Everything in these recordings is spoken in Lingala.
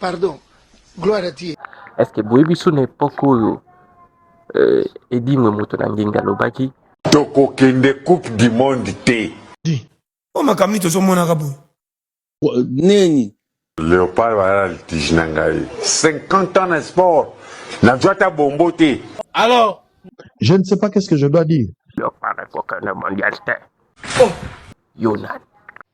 pardon gloire à dieu est ce que boyebi so na epoke oyo euh, edimwe moto na ngenga alobaki tokokende coupe du monde te o makambo nini tozomonaka boye nini leopard bayala litige na ngai 50 ans na sport nazwa ata bombo te alors je ne sais pas qu'est ce que je dois dire leopard ekoka na mondial te oh. yo nani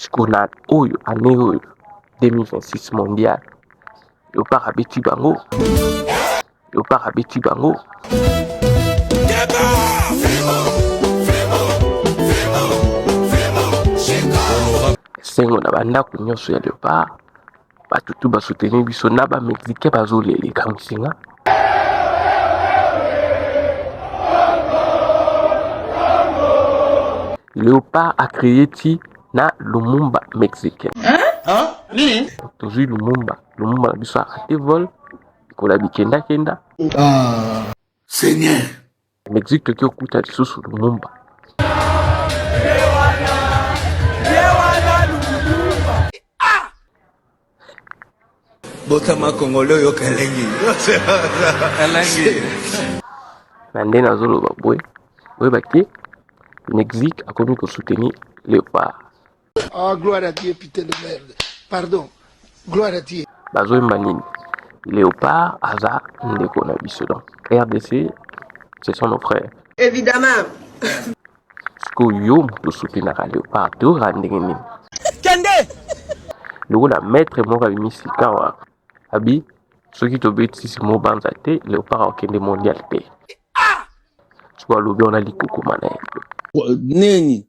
sikoyo na oyo ane oyo 2026 mondial leopard abeti bango leopard abeti bango esengo na bandako nyonso ya leopard bato tu ba soutenir biso na ba mexicain bazoleleka mosinga leopard a créé ti na lumumba mexicain tozwi lumumba lumumba na biso arate vol ekola bikendakenda ah. seigneur Mexique toki okuta lisusu Lumumba. botama kongole oyoka elengi elengi na nde nazoloba boye oyeba te mexique akomi kosoutenir leopard Oh, gloire à Dieu, putain de merde. Pardon. Gloire à Dieu. bazoyemba nini léopard aza ndeko na biso donc rdc ce sont nos frères évidemment sikoyo yo moto osoutenaka léopard teora ndenge nini kende lokola maître moko abimi sikawa abi soki tobetisi mobanza te léopard akokende mondial te sikoyo alobi wana likukuma na ye nini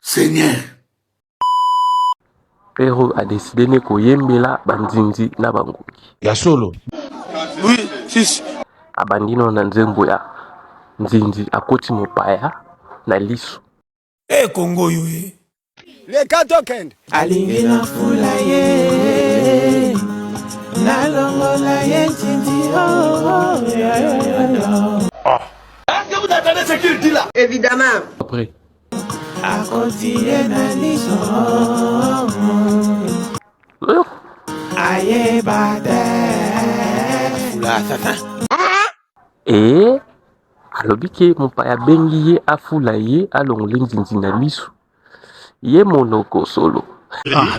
seigneur pero adeside ne koyembela bandindi na bangungi ya solo oui, sis. abandi no na nzembo ya nzinzi akoti mopaya na liso e eh, kongo oyo e eh. leka tokende alingi na fula ye nalongola ye nzinzi oh, oh, yeah, yeah, yeah, yeah. Ah. Est-ce que vous entendez ce qu'il dit là Évidemment. Après. akotiye na liso ayeba te fula sasa ee alobi ke mopaya abengi ye afula ye alongoli nzinzi na liso ye monoko solo ah,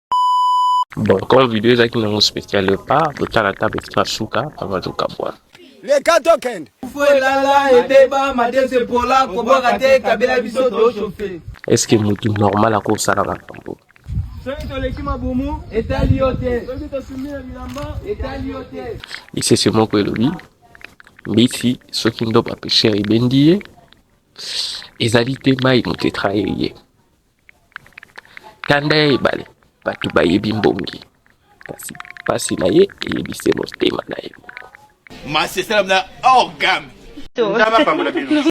Bon, comme vidéo ezalaki nango spécial epa totala ta petit na suka avant tokabwana leka tokende fo elala ebeba madese pola kobwaka te kabela biso toshofe estce motu normal akosala makambo soki toleki mabumu etali yo te soki tosumi na bilamba etali yo te lisese moko elobi mbisi soki ndoba pesher ebendi ye ezali te mai motetra eye Kanda ya ebale, bato bayebi mbongi, kasi pasi na ye eyebi se motema na ye moko. Masese na orgame. Nzambe apambola bino.